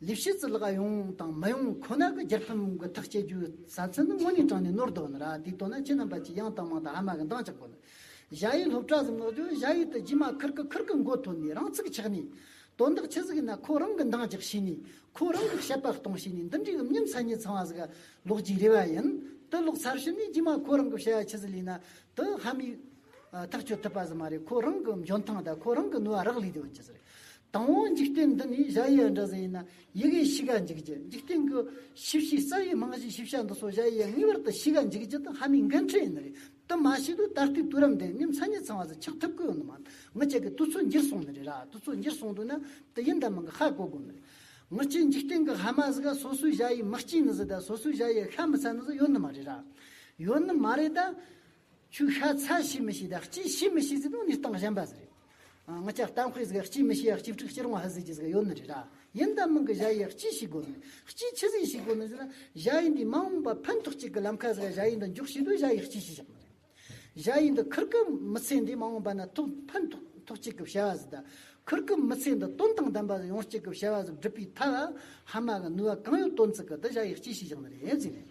ལི་ཤི་ཙི་ལགས་ཡོང་དང་མ་ཡོང་ཁོ་ན་གི་རྒྱལ་ཕམ་གི་ཐག་བཅད་རྒྱུ་ཟ་ཚུལ་ནི་དངོས་གནས་དྲང་ནས་ནོར་འདུག་ཨ་ན་ར་དེའི་དོ་ན་སྤྱི་རྣམ་པ་ཅིག་ཡང་དང་མང་དང་ཧ་མ་གི་འདང་ཆགས་པོ་ནི། གཞའ་ཡིས་སློབ་གྲྭ་ཟིག་མངགས་རྒྱུ་གཞའ་ཡིས་དུ་རྒྱུས་མ་ཁུར་གི་ཁུར་གི་མགོ་ཐོན་ནས་རང་ཚུགས་ཆགས་ནས། དོན་དག་ཆི་ཟིག་ཡིན་ན་ཁོ་རང་གི་འདང་རྒྱག་བྱས་ནས་ཁོ་རང་གི་བཤད་པ་གཏོང་བྱས་ནས་འདི་འདྲའི་ཡུམ་ཉིམ་ཚ་ཉི་ཚང་བ་ཟིག་ལོག་ཅིག་རེ་བ་ཡིན། དུ་ལོག་ཚར་ཕྱིན་ནས་རྒྱུས་མ་ཁོ་རང་གི་བཤད་པ་ཆི་ཟིག་ལས་ན་དུ་ཧ་མའི། ཐག་གཅོད་ཐུབ་པ་ཟིག་མ་རེད་ཁོ་རང་གི་འཇོན་ཐང་དང་ཁོ་རང་གི་ནུས་བ་རག་ལས་དེ་ཡོད་ཅི་ཟེར། དང་བོ་འཇིག་རྟེན་འདི་ནི་གཞལ་ཡས་འདྲ་ཟིན་ཡིན་ན་ཡི་གེ་བཞི་ག་འཇིག་བརྒྱད་འཇིག་རྟེན་གྱི་ཤེས་བྱའི་རྩ་བའི་རྨང་གཞི་ཤེས་བྱ་འདི་སོགས་གཞལ་ཡས་ངེས་པར་དུ་བཞི་ག་འཇིག་བརྒྱད་དང་ཧ་མའི་འགན་འཁྲི་ཡིན་ནི་རེད་དེ་མ་བྱས་དུས་ད་ལྟའི་དུས་རབས་འདི་ནི་མཚན་ཉིད་ཚང་བ་ཟིག་ཆགས་ཐུབ་ཀྱི་ཡོད་ནི་མ་རེད་ངི་ཅག་གི་དུས་ཚོད་འགྱུར་སོང་ནི་རེད་ར་དུས་ཚོད་འགྱུར་སོང་དུས་ན་དེ་ཡིན་ད་མི་འགའ་ཧ་གོ་དགོས་ནི་རེད་ངི་ཅིག་འཇིག་རྟེན་གྱི་ཧ་མ་ཟིག་ག་སོ་སོའི་གཞལ་ཡས་མི་གཅིག་ནི་ཟིག་ད་སོ་སོའི་གཞལ་ཡས་ཤ་མི་ཚ་ནི་ཟིག་ཡོད་ནི་མ་རེད་ར་ཡོད་ནི་མ་རེད་ད། ཆུ་ཤ་ཚ་ཤི་མི་ཤི་དང་སྐྱིད་ཤི་མི་ཤི་ཟིག་ནི་ནི་སྟངས་གཞན་པ་ཟིག་རེད། ང་ལྕགས་གཏམ་སྤེལ་ཟིག་སྐྱིད་མི་ཤི་ཡ་སྐྱིད་ཕྲུག་སྐྱིད་རུང་བ་ཧ་ཟིག་ཅི་ཟིག་ཡོད་ནི་རེད་ར། ཡིན་དང་མིན་གི་བཞའ་ཡིས་སྐྱིད་ཤི་དགོས་མེད། སྐྱིད་ཆི་ཟིག་ཤི་དགོས་མེད་ཟིག་ན། བཞའ་ཡིས་འདི་མ་འོངས་པ་ཕན་ཐོགས་ཅིག་གི་ལམ་ཁ་ཟིག་ལ་བཞའ་ཡིས་འདི་འཇོག་ཤི་དུས་བཞའ་ཡིས་སྐྱིད་ཤི་བཞག་ནི་རེད། བཞའ་ཡིས་འདི་ཁུར་གི་མི་ཚེ་འདི་མ་འོངས་པ་ན་ཐོག་ཕན་ཐོགས་ཐོགས་ཅིག་གི་བྱ་བ་ཟིག་དང། ཁུར་གི་མི་ཚེ་འདི་དོན་དང་ལྡན་པ་ཟིག་ཡོང་ཅིག་གི་བྱ་བ་ཟིག་བསྒྲུབ་པའི་ཐབས་ཨ་ཧ་མ་གི་ནུས་བ་གང་ཡོད་བཏོན་ཚིག་གི་དི་བཞའ་ཡིས་སྐྱིད་ཤི་བཞག་ནི་རེད་ཟིག་རེད།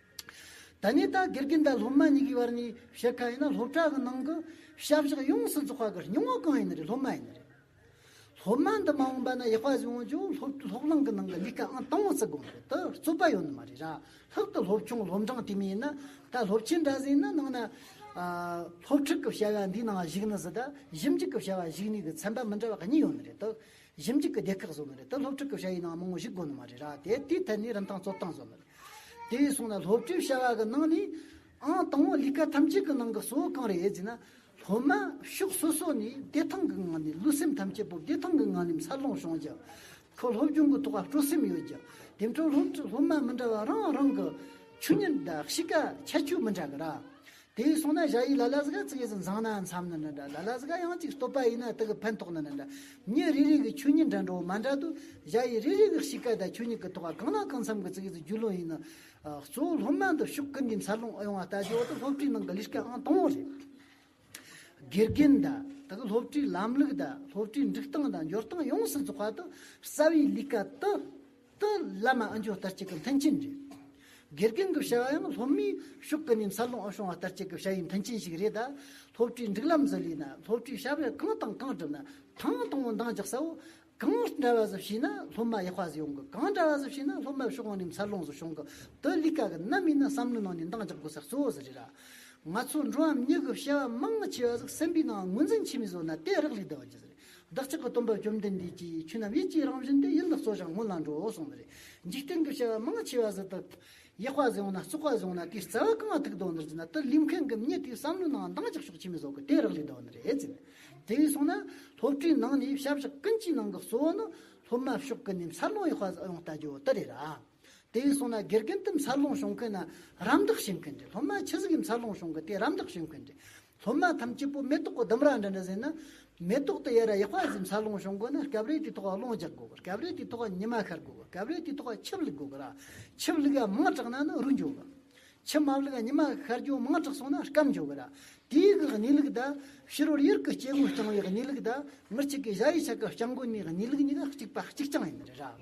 ད་ནི་ད་གེར་གྱི་འདའ་སློབ་མ་གཉིས་ཀྱི་བར་ནས་བཤད་ཁ་ཡིན་ན་སློབ་གྲྭ་གི་ནང་གི་ཞབས་ཞག་ཡོངས་སུ་རྫོགས་པ་གི་སྙིང་བོ་གང་ཡིན་རེད་སློབ་མ་ཡིན་རེད། སློབ་མ་འདི་མ་འོངས་པ་ན་ཡག་པ་ཞིག་འོང་ཆོག་སློབ་སློབ་གླིང་གི་ནང་གི་ལས་ཀ་ཨང་དང་བོ་བརྩི་དགོས་མ་རེད་དོ་རྩོད་པ་ཡོང་ནི་མ་རེད་ར་ལྷག་ཏུ་སློབ་ཆུང་སློབ་འབྲིང་དེ་མིན་ན་ད་སློབ་ཆེན་འདྲ་ཟིན་ན་ནང་ན་སློབ་ཕྲུག་གི་བྱ་བ་འདིའི་ནང་གཞུག་ནི་ཟི་ད་གཞི་འཇུག་གི་བྱ་བ་གཞུག་ནུས་ཀྱི་ཚན་པ་མི་འདྲ་བ་གཉིས་ཡོང་ནི་རེད་དོ་གཞི་འཇིག་གི་སྡེ་ཁག་བཟོ་ནི་རེད་དེ་སློབ་ཕྲུག་གི་བྱ་ཡི་ནང་མང་བོ་གཞི་དགོས་ནི་མ་རེད་ར་དེ་དེའི་ཐད་ནས་རིན་ཐང་རྩོད་སྟངས་བཟོ་ནི་རེད། དེ་བས་སོང་ན་སློབ་གྲྭའི་བྱ་བ་གི་ནང་ནས་ཨང་དང་བོ་ལས་ཀ་ཐམས་ཅད་ཀྱི་ནང་གི་གཙོ་བོ་གང་རེད་ཟེར་ན། སློབ་མ་ཕྱོགས་སོ་སོ་ནས་བདེ་ཐང་གི་ངང་ནས་ལུས་སེམས་ཐམས་ཅད་པོ་བདེ་ཐང་གི་ངང་ནས་འཚར་ལོངས་བྱུང་རྒྱུ། ཁོ་སློབ་སྦྱོང་གི་ཐོག་ལ་སྤྲོ་སེམས་ཡོད་རྒྱུ། དེ་འཕྲོར་སློབ་མ་མི་འདྲ་བ་རང་རང་གི་ཆོས་ཉིད་དང་གཤིས་ཀ་ཁྱད་ཆོས་མི་འདྲ་གི་ར། དེ་ཡིས་སོང་ན་བཞག་ཡིག་ལ་ལ་ཟི་ག་ཚིག་གཡས་སུ་འཛངས་ནའང་འཚམ་ནི་ནི་འདྲ་ལ་ལ་ཟི་ག་ཡང་ཅིག་སྟོད་པ་ཡིན་ན་དག་གི་ཕན་ཐོགས་ནི་ནི་འདྲ། ཉིན་རེ་རེ་གི་ཆོས་ཉིད་འདྲ་འདྲ་བོ་མ་འདྲ་དུ་བཞག་ཡིག་རེ་རེ་གི་གཤིས་ཀ་དང་ཆོས་ཉིད་ཀི་ཐོག་ག་གང་ན་གང་འཚམ་གི་ཚིག་གཡས་སུ་རྒྱུས་ལོན་ཡིན་ནི། གཙོ་བོ་སློབ་མ་འདི་ཕྱུགས་ཀི་འདིའི་མཚར་ལོངས་ཨེ་ཡོང་བ་ལྟ་ཅི་འོ་དི་སློབ་ཁྲིད་ནང་གི་ལས་ཀ་ཨང་དང་བོ་རེད། དགེ་རྒན་དང་དག་གི་སློབ་ཁྲིད་ལམ་ལུགས་དང་སློབ་ཁྲིད་འགྲིག་སྟངས་དང་འཇོར་སྟངས་ཡོངས་སུ་རྫོགས་པ་དུ་རྩ་བའི་ལས་ཀ་དུ་ཏུ་བླ་མ་ཨ་འཇོ་ལྟར་གཅིག་གི་མཐུན་རྐྱེན་རེད། དགེ་རྒན་གྱི་བྱ་བ་ཡང་སློབ་མའི་ཤུགས་ཀྱི་ནས་འཚར་ལོངས་ཨུ་ཤོང་བ་ལྟར་གཅིག་གི་བྱ་བའི་མཐུན་རྐྱེན་ཞིག་རེད་གདའ། སློབ་གྲྭའི་འགྲིག་ལམ་བཟོ་ལུས་ན་སློབ་གྲྭའི་བྱ་བའི་གང་དང་གང་བསྒྲུབ་ན་ཐང་དང་པོ་འདང་རྒྱག་ས་བོ། གང་འདྲ་བ་ཟིག་བྱས་ན་སློབ་མ་ཡག་པ་ཟིག་ཡོང་གི་གང་འདྲ་བ་ཟིག་བྱས་ན་སློབ་མའི་ཤུགས་གང་ནས་འཚར་ལོངས་ཟིག་བྱུང་གི་དུ་གླིས་ཀ་གི་རྣམ་སྨིན་ན་བསམ་བློའི་ནང་ནས་འདང་རྒྱག་དགོས་ས་གཙོ་བོ་ཟིག་རེད་ལ། ང་ཚོ་འགྲོ་བ་མི་གཉིས་ཀྱི་བྱ་བ་མང་ཆེ་བ་ཟིག་སེམས་པའི་ནང་ངོས་འཛིན་ཆེན་པོས་བཟོ་ན་དེ་རག་ལས་བསྡད་པ་ཇི་ཟིག་རེད། བདག་ཅག་གི་སྟོན་པ་བཅོམ་ལྡན་འདས་ཀྱིས་ཆོས་རྣམས་ཡིད་ཀྱི་རང་བཞིན་ཏེ་ཡིད་ལ་སོགས་ཀྱང་སྔོན་ལ་འགྲོའོ་གསུངས་པ་རེད། འཇིག་རྟེན་གྱི་བྱ་བ་མང་ཆེ་བ་བཟོད་དོ། ཡག་པ་བཟོས་འོང་ན་བཙོག་པ་བཟོས་འོང་ན་དེའི་རྩ་བ་བཀང་བ་ཐུགས་དོགས་འདིར་བྱས་ན་དུ་ལུས་མཁན་གྱི་མྱི་དེའི་བསམ་བློའི་ནང་འདང་རྒྱག་ཤོག་ཕྱི་མི་བཟོ་གི་དེ་རག་ལས་དོ་འདི་རེད་ཟེར། དེ་བས་སོང་ན་སློབ་གྲྭའི་ནང་ནས་ཞབས་ཞུ་ཀུན་གྱི་ནང་གི་གཙོ་བོ་ནི་སློབ་མ་ཕྱོགས་ཀུན་ནས་འཚར་ལོངས་ཡོང་བ་ཡོང་བལྟ་རྒྱུ་དེ་རེད་ར། དེ་བས་སོང་ན་དགེ་རྒན་དུ་འཚར་ལོངས་བྱུང་མཁན་ན་རམ་འདེགས་བྱེད་མཁན་དེ་སློབ་མ་ཆེ་ཟིག་གིས་འཚར་ལོངས་བྱུང་གི་དེ་རམ་འདེགས་བྱེད་མཁན་དེ་སློབ་མ་ཐམས་ཅད་པོ་མེ་ཏོག་གི་ལྡུམ་ར་འདྲ་འདྲ་ཟིན་ན་མེ་ཏོག་དེ་ཡར་ཡག་པ་ཟིག་འཚར་ལོངས་བྱུང་དགོས་ན་སྐབས་རེ་དེའི་ཐོག་ལ་རླུང་རྒྱག་དགོས་གི་སྐབས་རེ་དེའི་ཐོག་ཉི་མ་ཤར་དགོས་གི་སྐབས་རེ་དེའི་ཐོག་ལ་ཆུ་བླུགས་དགོས་གི་ར་ཆུ་བླུགས་ཡ་མང་དྲགས་ན་ནི་རུལ་འགྱོ་གི་ཆུ་མ་བླུགས་ཡ་ཉི་མ་ཤར་རྒྱུ་མང་དྲགས་སོང་ན་སྐམ་འགྱོ་གི་ར་དེའི་གི་གནས་ལུགས་དང་ཕྱི་རོལ་ཡུལ་གི་སྐྱེ་དངོས་རྐྱང་བའི་གནས་ལུགས་དང་མི་གཅིག་གི་གཞའ་ཡི་ཆ་གི་རྐྱང་འགོ་ནས་གནས་ལུགས་གཉིས་ཀ་གཅིག་པ་གཅིག་རྐྱང་ཡིན་པ་རེད་ར།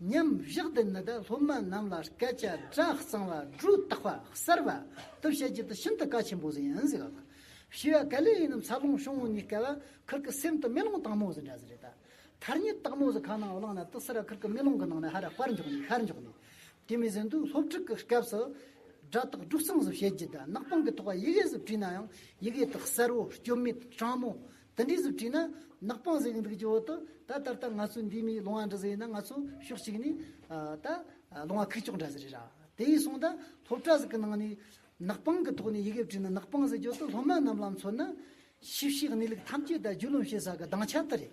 མཉམ་བཞག་འདི་ནི་སློབ་མ་རྣམས་ལ་སྐད་ཆ་སྒྲ་གཙང་བ་སྒྲོས་བཏགས་པ་གསར་བ་དུ་བྱེད་རྒྱུ་དེ་ཤིན་ཏུ་གལ་ཆེན་པོ་ཟིན་ཡིན་ཟེར་བ་དང། བྱིས་པ་ག་ལེ་ཡིན་ནམ་འཚར་ལོངས་བྱུང་བ་ནི་སྐལ་བ་ཁུར་གི་སེམས་དང་མེ་ལོང་སྟག་མོ་ཟེར་འདྲ་ཟེར་རེད་ད། ཐར་ཉེས་སྟག་མོ་ཟེར་ཁ་ནང་བླངས་ན་དུ་སེ་ར་ཁུར་གི་མེ་ལོང་གི་ནང་ནས་ཧ་ར་དཔར་འཇོག་ནས་ཤར་འཇོག་ནས། དེ་མིན་ཟིན་ཐོའི་སློབ་ཕྲུག་གི་སྐབས་སུ། སྒྲ་དག་སྒྲོས་གཙང་བཟོ་བྱེད་རྒྱུ་དེ་ནག་པང་གི་ཐོག་ཡི་གེ་སུ་བྲིས་ན་ཡང་ཡི་གེ་དག་གསལ་བོ་སྐྱོན་མེད་སྤྲང་མོ་དེ་འདྲའི་གཟུགས་བྲིས་ན་ནག་པང་གཟེགས་འདུག་ཀྱི་འོག་ཏུ་ད་ད་ལྟ་ང་ཚོ་འདིའི་མིའི་ལུང་བ་འདྲི་ཟེར་ཡིན་ན་ང་ཚོ་ཕྱོགས་གཅིག་ནས་ད་ལུང་བ་ཁུག་ཀྱོག་འདྲ་ཟེར་རེད་ར་དེ་ཡིན་སོང་ད་སློབ་གྲྭ་ཟིག་གི་ནང་ནས་ནག་པང་གི་ཐོག་ནས་ཡི་གེ་བྲིས་ན་ནག་པང་ཟེར་གྱི་འོག་ཏུ་སློབ་མ་རྣམས་ལ་མཚོན་ན་ཞིབ་བཤེར་གནས་ལུགས་ཐམས་ཅད་ད་རྒྱུད་ལུང་བཤད་ས་གི་གདངས་ཆ་དེ་རེད།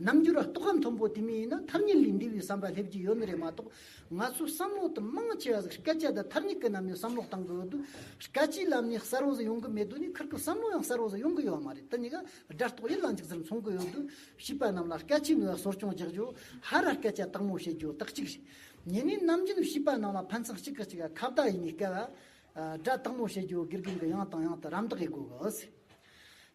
རྣམ་འགྱུར་རྟོག་ག་མཐོན་པོ་དེ་མིན་ན་མཐར་ཉིད་ལས་འདས་པའི་བསམ་པ་སླེབས་ཀྱི་ཡོད་ནི་རེད་མ་གཏོགས་ང་ཚོའི་བསམ་བློ་དང་མང་ཆེ་བ་ཟིག་སྐད་ཆ་དང་མཐར་ཉིད་ཀྱི་ནམ་ཡང་བསམ་བློ་གཏང་གི་ཡོད་དུས་སྐད་ཆའི་ལམ་ནས་གསར་བ་ཟིག་ཡོང་གི་མེད་དུས་ནི་ཁིར་ཀྱི་བསམ་བློ་ཡང་གསར་བ་ཟིག་ཡོང་གི་ཡོད་མ་རེད་དེ་གཉིས་ཀ་སྒྲ་རྟོག་ཡིད་ལ་འཇུག་ཙམ་མཚུངས་ཀྱི་ཡོད་དུས་བྱིས་པ་རྣམས་ལ་སྐད་ཆའི་ནུས་བ་གསོ་སྐྱོང་རྒྱག་རྒྱུ་ཧ་ར་སྐད་ཆ་དག་མོ་བཤད་རྒྱུ་དག་གཅིག་རེད་ཉེ་གནས་ནམ་རྒྱུན་བྱིས་པ་རྣམས་ལ་ཕན་ཚུན་གཅིག་གིས་གཅིག་ཁ་བརྡ་ཡིན་ནི་སྐད་སྒྲ་དག་མོ་བཤད་རྒྱུ་དགེ་རྒན་གྱི་ཡང་དང་ཡང་དུ་རམ་འདེགས་དགོས་གི་ཨོ་སི་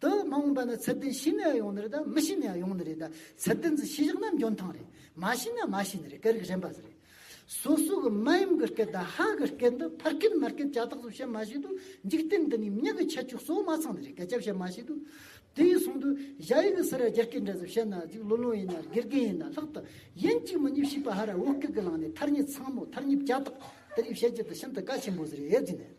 དུ་མ་འོངས་པ་ན་ཚད་ལྡན་ཤི་ནས་ཡང་ཡོང་ནི་རེད་ད་མི་ཤི་ནས་ཡང་ཡོང་ནི་རེད་ད་ཚད་ལྡན་ཚུ་ཤི་བཞག་ན་འཇོན་ཐང་རེད་མ་ཤི་ན་མ་ཤི་ནི་རེད་སྐད་རིགས་གཞན་པ་ཟེར་རེད་སོ་སོ་གི་མ་ཡུམ་གི་སྐད་དང་ཧ་གི་སྐད་འདི་ཕར་སྐད་མར་སྐད་ཅག་ཐག་སོགས་བཤད་མ་ཤེས་དུས་འཇིག་རྟེན་འདི་ནས་མྱི་གི་ཁྱད་ཆོས་གསོ་མ་ཚང་ནི་རེད་སྐད་ཆ་བཤད་མ་ཤེས་དུས་དེ་ཡི་སོང་དུས་གཞའ་ཡི་གི་སི་ར་རྒྱ་སྐད་འདྲ་ཟིག་བཤད་ན་ཟིག་ལོ་ལོ་ཡིན་ན་དགེ་རྒན་ཡིན་ན་ལྷག་ཏུ་ཡིན་གཅིག་མི་གཉིས་བཤིག་པ་ཧ་ར་བོ་སྐད་གི་ལང་ནི་ཐར་ཉི་ཚང་མོ་ཐར་ཉི་བརྒྱ་དག་དེ་རིགས་བཤད་རྒྱུ་དེ་ཤིན་ཏུ་དཀའ་ཆེན་པོ་ཟི་རེད་ཟིན་ནས།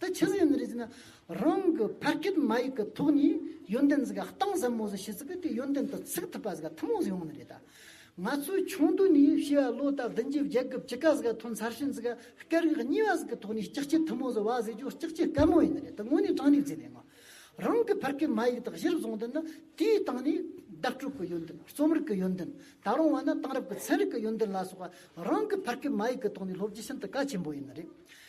དེ་ཕྱི་ཟིན་ཡོད་རེད་ཟེར་ན་རང་གི་ཕ་སྐད་མ་ཡིག་གི་ཐོག་ནས་ཡོན་ཏན་ཟེར་ག་གཏིང་ཟབ་མོ་ཟིག་ཤེས་ཚུལ་གི་དེ་ཡོན་ཏན་དུ་ཚུགས་ཐུབ་པ་ཟེར་ག་ཐུན་མོང་ཟིག་ཡོང་ནི་རེད་ད། ང་ཚོས་ཆུང་དུས་ནས་ཤེས་པ་ལོ་ལྟར་བདུན་གྱི་བརྒྱད་གི་བཅུ་ཀ་ཟིག་ག་ཐོན་ཚར་ཕྱིན་ཟིག་ག་སྐད་རིགས་གཉིས་པ་ཟིག་གི་ཐོག་ནས་ལྕགས་ཀྱི་ཐུན་མོང་ཟིག་བ་ཟེར་རྒྱུ་ལྕགས་ཀྱི་སྐལ་མོ་ཡིན་ནི་རེད་ད་དངོས་གནས་དྲང་ནས་བརྫིས་ནས་ང་རང་གི་ཕ་སྐད་མ་ཡིག་དག་གཞིར་བཟུང་དུ་ནི་དེའི་སྟེང་ནས་བརྡ་སྤྲོད་གི་ཡོན་ཏན་རྩོམ་རིག་གི་ཡོན་ཏན་ད་རུང་བ་ན་དེང་རབས་ཀྱི་ཚན་རིག་གི་ཡོན་ཏན་ལ་སོགས་པ་རང་གི་ཕ་སྐད་མ་ཡིག་གི་ཐོག་ནས་སློབ་རྒྱུ་ཤིན་ཏུ་གལ་ཆེན་པོ་ཡིན་ནི་རེད།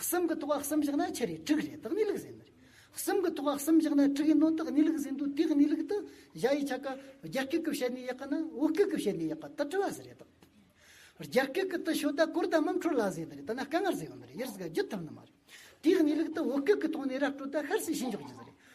གསུམ་གྱི་ཐོག་ཁ་གསུམ་བཞག་ན་ཁྱི་རེད་དྲུག་རེད་དག་གནས་ལུགས་ཟིན། གསུམ་གྱི་ཐོག་ཁ་གསུམ་བཞག་ན་དྲུག་ཡིན་ནོ་དག་གནས་ལུགས་ཟིན་འདུག་དེ་གནས་ལུགས་དུ་གཞའ་ཡི་ཆ་ཀ་རྒྱ་སྐད་ཀྱི་བཤད་ནས་ཡག་གི་ན་བོད་སྐད་ཀྱི་བཤད་ནས་ཡག་གི་དུ་དྲི་བ་ཟེར་རེད་དག། རྒྱ་སྐད་ཀྱི་དུ་ཤོད་ད་གོར་ད་མམ་ཁྲོ་ལ་ཟེར་ནི་རེད་ད་ན་སྐ་ངར་ཟེར་ཡོང་ནི་རེད་ཡར་ཟིག་ག་རྒྱུད་ཐུབ་ནི་མ་རེད། དེ་གནས་ལུགས་དུ་བོད་སྐད་ཀྱི་ཐོག་ནས་ར་སྤྲོད་ད་ཤར་སི་ཤི་འཇོག་རྒྱུ་ཟེར་རེད།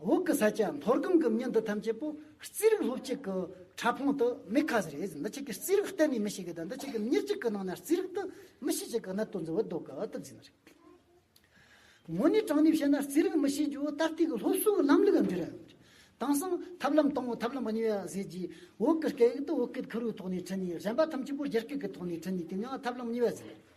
འོག་གི་ས་སྐྱ་མཐོ་སྒང་གི་མྱི་འདི་ཐམས་ཅད་པོ་རྩིས་རིག་སློབ་ཅིག་གི་ཕྲ་ཕུང་དུ་མི་ཁ་ཟེར་ཡས་འདི་ཆིག་གི་རྩིས་རིག་གཏན་ནས་མི་ཤེས་གི་དང་འདི་ཆིག་གི་མྱི་གཅིག་གི་ནང་ན་རྩིས་རིག་དུ་མི་ཤེས་ཅིག་གི་ན་དོན་ཟེར་བའི་ལྡོ་ག་དུ་འཛིན་ན་རེད། དངོས་གནས་དྲང་གནས་བཤད་ན་རྩིས་རིག་མི་ཤེས་རྒྱུ་ད་ལྟའི་གི་སློབ་གསོའི་ལམ་ལུགས་འདི་རེད། དེང་སང་ཐབས་ལམ་དང་ཐབས་ལམ་གཉིས་ཡོད་ཟེར་གྱིས་འོག་གི་སྐད་ཡིག་དུ་འོག་གི་ཁུར་བོའི་ཐོག་ནས་ཁྲིད་ནས་གཞན་པ་ཐམས་ཅད་པོ་རྒྱ་སྐད་གི་ཐོག་ནས་ཁྲིད་ནས་དེ་གཉིས་ཐབས་ལམ་གཉིས་ཡོད་ཟེར།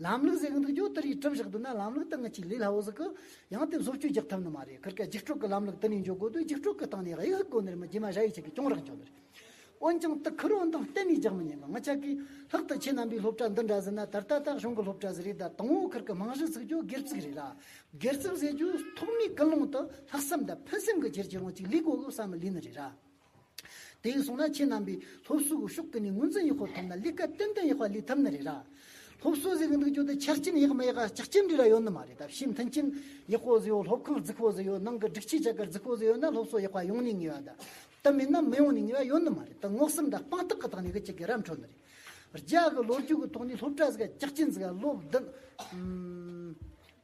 ལམ་ལུགས་ཟེར་གི་འདུག་ཀྱོ་དེ་རིགས་གྲུབ་བཞག་འདུག་ན་ལམ་ལུགས་དེ་ངས་ཅིག་ལས་སླ་བོ་ཟིག་གི། ཡང་དེ་བཟོ་བཅོས་རྒྱག་ཐུབ་ནི་མ་རེད་གར་སྐད་འཇིགས་སྤྲོད་ཀྱི་ལམ་ལུགས་དེ་ནས་འཇོག་དགོས་དུས་འཇིགས་སྤྲོད་ཀྱི་སྟེང་ནས་གཡུལ་ཟུག་གོ་ནི་རེད་མ་རྗེས་མ་ཤ་ཡིས་ཆེ་གི་གྱོང་རག་འཇོག་ནི་རེད། འོན་ཀྱང་དེ་ཁུར་འོང་དང་གཏན་ནས་རྒྱག་མི་ཉན་གི་ང་ཅག་གིས་ལྷག་ཏུ་ཁྱེད་རྣམ་པའི་སློབ་གྲྭ་འདི་འདྲ་ཟིན་ན་ད་ལྟ་དག་གཞུང་གི་སློབ་གྲྭ་ཟེར་རིགས་དང་དང་བོ་གར་གྱི་རྨང་གཞི་ཚུགས་རྒྱུ་སྒེར་ཚུགས་རེད་ལ། སྒེར་ཚུགས་ཟེར་རྒྱུ་ཐོག་མའི་ཀུན་སློང་དུ་ལྷག་བསམ་དང་ཕུན་སེམས་ཀྱི་ཁྱེར་ཁྱེར་རང་ཅིག་ལུས་དགོས་གི་བསམ་མི་ལུས་ནི་རེད་ར། དེ་ཡིན་སོང་ན་ཁྱེད་རྣམ་པའི་སློབ་གསོ་གི་ཤོག་གི་ནས་ངོས་འཛིན་ཡག་ཤོག་ཐོབ་ན་ལི་ཀ་ཏན་ཏན་ཡག་པ་ལི་ཐབ་ནི་རེད་ར། སློབ་གསོ་བཟི་གི་འདུག་རྒྱུ་དེ་ཆ་རྐྱེན་ཡག་མི་ཡག་ལ་ལྕག་ཁྱིམ་རེ་ར་ཡོད་ནི་མ་རེད་ད་ཕྱིས་མཐུན་རྐྱེན་ཡག་པོ་བཟི་ཡོད་སློབ་ཁང་རྫིག་པོ་བཟི་ཡོད་ནང་གི་སྒྲིག་ཆས་ཆ་ག་རྫིག་པོ་བཟི་ཡོད་ན་སློབ་གསོ་ཡག་པ་ཡོང་ནི་ངེས་བ་ད་ད་མིན་ན་མི་ཡོང་ནི་ངེས་བ་ཡོད་ནི་མ་རེད་ད་ངོགས་སེམས་ད་དཔང་རྟགས་གི་ཐོག་ནས་གི་ཅི་གི་ར་འཕྲོ་ནི་རེད། རྒྱ་གི་ལོ་རྒྱུས་གི་ཐོག་ནས་སློབ་གྲྭ་བཟི་ག་ལྕག་ཁྱིམ་བཟི་ག་སློབ་བདུན།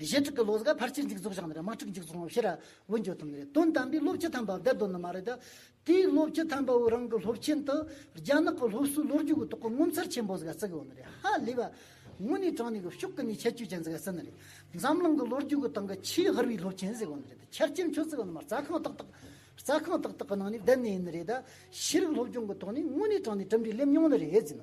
གཞི་དྲུག་གི་བློ་གཟུགས་ཕར་ཕྱིར་འཇིག་རྫོགས་བཞག་ནས་དམག་འཁྲུག་འཇིག་རྫོགས་ངོ་ཤེས་ར་བོ་འཇོག་ཐུབ་ནི་རེད་དོན་དམ་པའི་སློབ་སྤྱི་དམ་པ་བདེ་སྡོད་ནི་མ་རེད་དེ། དེའི་སློབ་སྤྱི་དམ་པ་བོའི་རང་གི་སློབ་ཆེན་དུ་རྒྱ་ནག་གི་སློབ་གསོའི་ལོ་རྒྱུས་ཀྱི་ཐོག་གི་ངོ་མཚར་ཆེན་པོ་ཟིག་ལ་བརྩི་དགོས་ནི་རེད་ཧ་ལས་པ། དངོས་གནས་དྲང་གནས་ཀྱི་ཕྱོགས་ཀྱི་ནས་ཁྱད་ཆོས་ཅན་ཟིག་ལ་བརྩི་ནི་རེད། འཛམ་གླིང་གི་ལོ་རྒྱུས་ཀྱི་སྟེང་གི་ཆེས་ཧུར་བའི་སློབ་ཆེན་ཟེར་དགོས་ནི་རེད་ཆ་རྐྱེན་ཁྱོད་བརྩི་གི་ནི་མ་རྩ་ཁང་ཏག་ཏག་རྩ་ཁང་ཏག་ཏག་གི་ནང་ནས་བསྡད་ནི་ཡིན་ནི་རེད། ཤེས་རིག་སློབ་སྦྱོང་གི་ཐོག་ནས་དངོས་གནས་དྲང་གནས་གྲུབ་འབྲས་སླེབས་མྱོང་ནི་རེད་ཟེར་ན་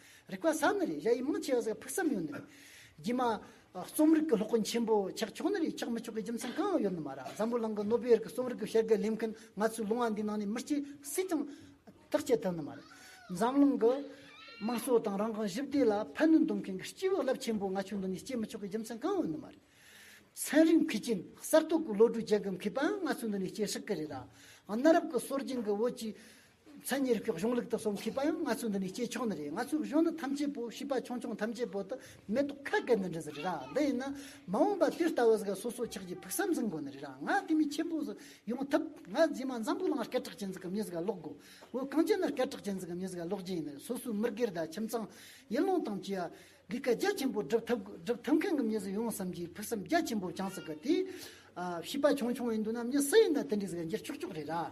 རིག་པ་ས་ནི་རེད་གཞའ་ཡིས་མང་ཆེ་བ་ཟིག་ཕུགས་བསམ་ཡོད་ནི་རེད། རྒྱུས་མ། རྩོམ་རིག་གི་སློབ་དཔོན་ཆེན་པོ་ཆགས་ཆོག་ནི་རེད་ཆགས་མི་ཆོག་གི་རྒྱུ་མཚན་གང་ཡང་ཡོད་ནི་མ་ར་བཟང་པོ་ལང་གི་ནོ་པེར་གི་རྩོམ་རིག་གི་བྱ་དགའི་ལས་མཁན་ང་ཚོའི་ལུང་བ་འདིའི་ནང་ནས་མི་གཅིག་སུས་ཀྱང་ཐག་བཅད་ཐུབ་ནི་མ་རེད། འཛམ་གླིང་གི་དམངས་གཙོ་དང་རང་དབང་ཞི་བདེ་ལ་ཕན་ནུས་འདོན་མཁན་གྱི་སྤྱི་བའི་རླབས་ཆེན་པོ་ང་ཆོས་འདི་ནས་སྐྱེ་མི་ཆོག་གི་རྒྱུ་མཚན་གང་ཡང་ཡོད་ནི་མ་རེད། ཚན་རིག་མཁས་ཅན་གསར་གཏོད་ཀྱི་བློ་གྲོས་རྒྱལ་ཁབ་མཁས་པའང་ང་ཚོའི་འདི་ནས་སྐྱེ་སྲིད་གི་རེད། གནའ་རབས་ཀྱི་སྲོལ་རྒྱུན་གྱི་བོད་ཀྱི་མཚན་ཉིད་ཀྱི་གཞུང་ལུགས་དུ་སོང་མཁས་པ་ཡང་ང་ཚོའི་འདི་ནས་སྐྱེས་ཆོག་ནི་རེད་ང་ཚོའི་གཞུང་ནི་ཐམས་ཅད་པོ་ཤེས་པ་ཆུང་ཆུང་ཐམས་ཅད་པོ་དུ་མེ་ཏོག་ཁ་སྐད་ནི་འདྲི་ཟི་རེད་ར་འདི་ཡིན་ན་མ་འོངས་པ་དུས་ལྟ་བུ་ཟིག་གི་སོ་སོ་ཆགས་ཀྱི་ཕུགས་བསམ་ཟིག་འགོ་ནི་རེད་ར་ང་དེ་མི་ཆེན་པོ་ཟིག་ཡོང་ཐུབ་ང་རྗེས་མ་འཛམ་བུ་གླིང་ལ་སྐད་གྲགས་ཅན་ཟིག་གི་མྱུལ་ཟིག་ག་ཀློག་དགོས་འོས་གངས་ཅན་ན་སྐད་གྲགས་ཅན་ཟིག་གི་མྱུལ་ཟིག་ག་ཀློག་རྒྱུ་ཡིན་ནི་སོ་སོའི་མི་སྒེར་དང་ཁྱིམ་ཚང། ཡུལ་ལུང་དང་བཅས་པ་འདི་ག་རྒྱ་ཆེན་པོ་སྒྲུབ་ཐུབ་དགོས་སྒྲུབ་ཐུབ་མཁན་གི་མྱུལ་ཟིག་ཡོང་བསམ་གྱི་ཕུགས་བསམ་རྒྱ་ཆེན་པོ་བཅངས་ཟིག་གི་དེས། ཤེས་པ་ཆུང་ཆུང་ཡིན་འདུག་ན་མྱུལ་སུ་ཡིན་ན་དེ་འདྲའི་ཟིག་ག་འགྱུར་ཆོག་ཆོག་རེད་ར།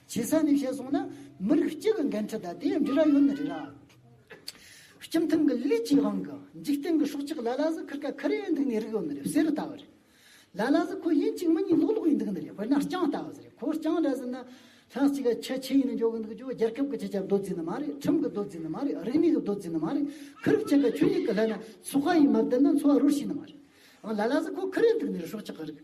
བྱེད་ས་ནི་ཞེས་གསུངས་ན་མི་རིགས་གཅིག་གི་འགན་འཁྲི་དང་དེའི་འབྲི་ར་ཡོད་ནི་རེད་ལ། སྤྱི་མཐུན་གྱི་ལུས་ཀྱི་དབང་གི་འཇིག་རྟེན་གྱི་སྲོག་ཆགས་ལ་ལ་ཟི་ཁིར་ཀ་ཁི་རེ་འདུག་ནི་རིགས་ཡོད་ནི་རེད་བསེ་རུ་ལྟ་བུ་རེད། ལ་ལ་ཟི་ཁོ་ཡིན་གཅིག་མི་གཉིས་ལོག་ལོག་ཡིན་འདུག་ནི་རེད་དཔེར་ན་རྐྱང་ལྟ་བུ་ཟེར་རེད་ཁོ་རྐྱང་འདྲ་ཟེར་ན། ལྷ་གཅིག་ག་ཁྱི་ཁྱི་ཡིན་ནི་འཇོག་གི་འདུག་ཅོ་རྒྱལ་ཁབ་ཀྱི་སྤྱི་ཁྱབ་རྡོ་རྫི་ནི་མ་རེད་ཁྲིམས་ཀྱི་རྡོ་རྫི་ནི་མ་རེད་རིག་གནས་ཀྱི་རྡོ་རྫི་ནི་མ་རེད་ཁི་རིག་ཁྱི་ག་ཁྱོད་གཉིས་ཀྱི་ལྷད་ན་ཚོགས་ཁ་ཡིན་མ་བསྡད་ན་འཚོ་བ་རོལ་ཤེས་ནི་མ་རེད། ལ་ལ་ཟི་ཁོ་ཁི་རེ་འདུག་ནི་རེད་སྲོག་ཆགས་ཀྱི་རིགས།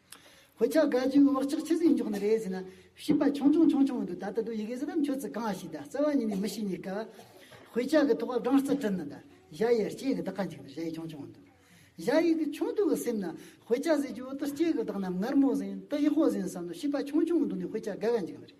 ཧོ་ཆ་དགའ་རྒྱུའི་བག་ཆགས་ཇི་སྲིད་འཇོག་ནི་རེད་ཟེར་ན། བྱིས་པ་ཆུང་ཆུང་ཆུང་ཆུང་འདུག་ད་ལྟ་འདུག་ཡི་གེ་ཟེར་ན་ཁྱོད་ཚོས་གང་ཞིག་གདའ་རྩ་བ་ཉིད་ནས་མི་ཤེས་གཉིས་ཀ། ཧོ་ཆ་གི་ཐོག་སྦྲང་རྩི་བྲིད་ན་གདའ་གཞའ་ཡི་སྐྱེས་གི་བདག་ག་འཇིག་ན་གཞའ་ཡི་ཆུང་ཆུང་འདུག་གཞའ་ཡི་གི་ཆུང་དུ་གི་སེམས་ན་ཧོ་ཆ་ཟེར་གྱི་འོ་ཏོ་སྐྱེས་གི་བདག་ནམ་མངར་མོ་ཟིན་ཏི་ཧོ་ཟིན་བསམ་ན་བྱིས་པ་ཆུང་ཆུང་འདུག་ནི་ཧོ་ཆ་དགའ་ག་འཇིག་ན་རེད།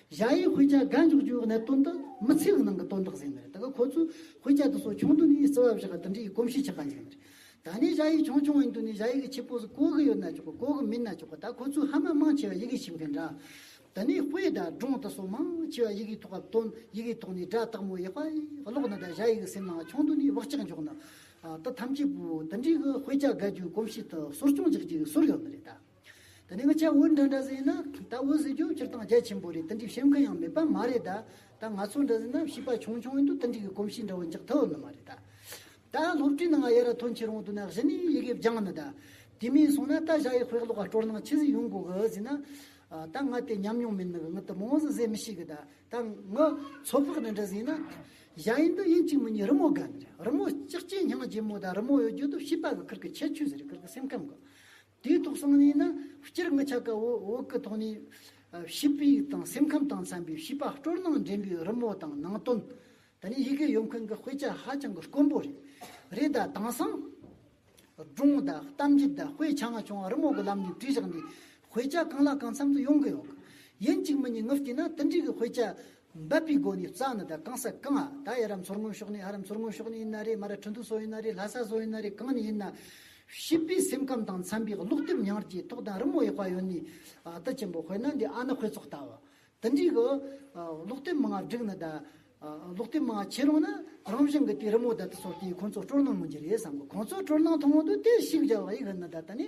གཞའ་ཡིས་དཔེ་ཆ་འགའ་འཇོག་རྒྱུའི་འོག་ནས་དོན་དག་མི་ཚེའི་ནང་གི་དོན་དག་ཟིན་ནི་རེད་ད་ག་ཁོ་ཚོས་དཔེ་ཆ་འདི་སོགས་ཆུང་དུས་ནས་ཡིད་བརྩེ་བ་བཞག་ག་འདི་འདྲའི་ཡི་གོམས་གཤིས་ཆགས་ག་འཇུག་ནི་རེད། ད་ནས་གཞའ་ཡིས་ཆུང་ཆུང་བའི་དུས་ནས་གཞའ་ཡིག་གི་ཁྱི་ཕོ་སི་གོ་གི་ཡོད་ན་ཆོག་གི་གོ་གི་མིན་ན་ཆོག་གི་ད་ཁོ་ཚོས་ཧ་མ་མང་ཆེ་བ་ཡི་གེ་ཤེས་མཁན་འདྲ། ད་ནས་དཔེ་དག་སྒྲུང་དག་སོགས་མང་ཆེ་བ་ཡི་གེའི་ཐོག་ག་དོན་ཡི་གེའི་ཐོག་ནས་སྒྲ་དག་མོ་ཡག་པ་ཀློག་ནི་ད་གཞའ་ཡིག་གི་སེམས་ནང་ཆུང་དུས་ནས་བག་ཆགས་འཇོག་ནི། ད་ཐམས་ཅད་པོ་འདི་འདྲའི་གི་དཔེ་ཆ་འགའ་རྒྱུའི་གོམས་གཤིས་དག་གསོ་སྐྱོང་རྒྱག་རྒྱུའི་ཟུར་ཡོད་ནི་རེད་ད། ད་ནི་ང་ཅག་འུར་འདྲ་འདྲ་ཟེར་ན་ད་འུར་ཟེར་རྒྱུ་སྤྱིར་བཏང་རྒྱ་ཆེན་པོ་རེད་ཏན་ཏིག་བཤད་མཁན་ཡང་མེད་པ་མ་རེད་ད་ད་ང་ཚོ་འདྲ་ཟེར་ན་བྱིས་པ་ཆུང་ཆུང་ཡིན་དུས་ཏན་ཏིག་གི་གོམས་གཤིས་འདྲ་བོ་འཇགས་ཐུབ་ནི་མ་རེད་ད། ད་སློབ་གྲྭའི་ནང་ཡ་ར་ཐོན་ཆེད་རོང་དུ་ནག་ཞི་ནས་ཡི་གེ་སྦྱངས་ནི་ད། དེ་མིན་སོང་ན་ད་བཞག་ཡག་ཤོས་ཀློག་ཀ་སྤྲོར་ནང་ཕྱི་ཟིག་ཡོང་དགོས་གི་ཟེར་ན། ད་ང་དེ་ཉམས་མྱོང་མེད་ནི་གི་ང་དུ་མ་འོང་ཟིག་ཟེར་མི་ཤེས་གི་ད་ད་ང་ཚོ་ཕག་འདྲ་འདྲ་ཟེར་ན། བཞག་ཡིན་དུས་ཡིན་གཅིག་མི་གཉིས་རི་མོ་དགའ་ནི་རི་མོ་ལྕགས་ཀྱི་སྙིང་རྗེ་མོ་ད་རི་མོ་ཡོད་རྒྱུ་དུ་བྱིས་པ་གི་ཁུར་གི་ཁྱད་ཆོས་ཟེར་གི་ཁུར་གི་སེམས་ཁམས་གི། དུས་ཐོག་སང་ཉིན་ནི་སྤྱིར་དངུལ་ཆ་ག་འོག་འོག་གི་ཐོག་ནས། བྱིས་པའི་དང་སེམས་ཁམས་དང་འཚམ་པའི་བྱིས་པ་སྤྲོར་སྣང་འདྲེན་པའི་རི་མོ་དང་ནང་དོན། དེ་ནི་ཡི་གེ་ཡོད་མཁན་གྱི་དཔེ་ཆ་ཧ་ཅང་གི་དཀོན་པོ་རེད། རེད་ད་དེང་སང། སྒྲུང་དང་གཏམ་རྒྱུད་དང་དཔེ་ཆ་ང་ཆུང་བ་རི་མོ་གི་ལམ་ནས་བྲིས་བཞག་ནས་དཔེ་ཆ་གང་ལ་གང་འཚམ་དུ་ཡོང་གི་ཡོད། ཡིན་གཅིག་མིན་གཉིས་ངུ་བལྟས་ན་དེ་འདྲའི་གི་དཔེ་ཆ་འབབ་པའི་སྒོ་ནི་རྩྭ་ནི་དང་གང་ས་གང་ཨ་ད་ཡ་རབ་མཚོར་སྔོན་ཕྱོགས་ནི་ཨ་རབ་མཚོར་སྔོན་ཕྱོགས་ནི་ཡིན་ན་རེ་མ་ར་ཁྲི་འདུ་སོགས་ཡིན་ན་རེ་ལྷ་ས་སོགས་ཡིན་ན་རེ་གང་ནས་ཡིན་ན། བྱིས་པའི་སེམས་ཁམས་དང་འཚམ་པའི་ཀློག་དེབ་ཉར་གྱིས་ཐོག་དང་རི་མོ་ཡག་པ་ཡོད་ནི་ཨ་ད་ཆེན་པོ་དཔེར་ན་འདི་ཨ་ན་ཁོས་ཙོག་ལྟ་བ། དི་འདྲིས་གི། ཀློག་དེབ་མང་ང་བསྒྲིགས་ནི་ད། ཀློག་དེབ་མང་ང་ཆེ་རུང་ན་རང་བཞིན་གི་དེ་རི་མོ་ད་དི་སོགས་དེ་ཁོང་ཚོ་སྤྲོར་གནང་མི་འགྱུར་རེད་བསམ་གི་ཁོང་ཚོ་སྤྲོར་གནང་ཐུང་ངུ་འདུག་དེ་བྱིས་ག་ཡག་ཡིན་ནི་ད་ད་ནི་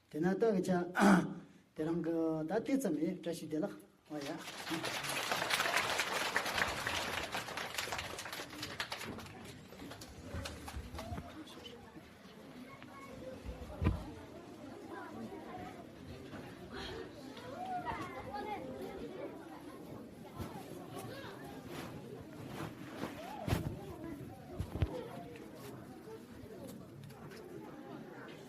དེ་ན་བདག་གི་ཅག། དེ་རང་གི་ད་དེ་ཙམ་ཡི་བཀྲ་ཤིས་བདེ་ལགས། ཨོ་ཡ།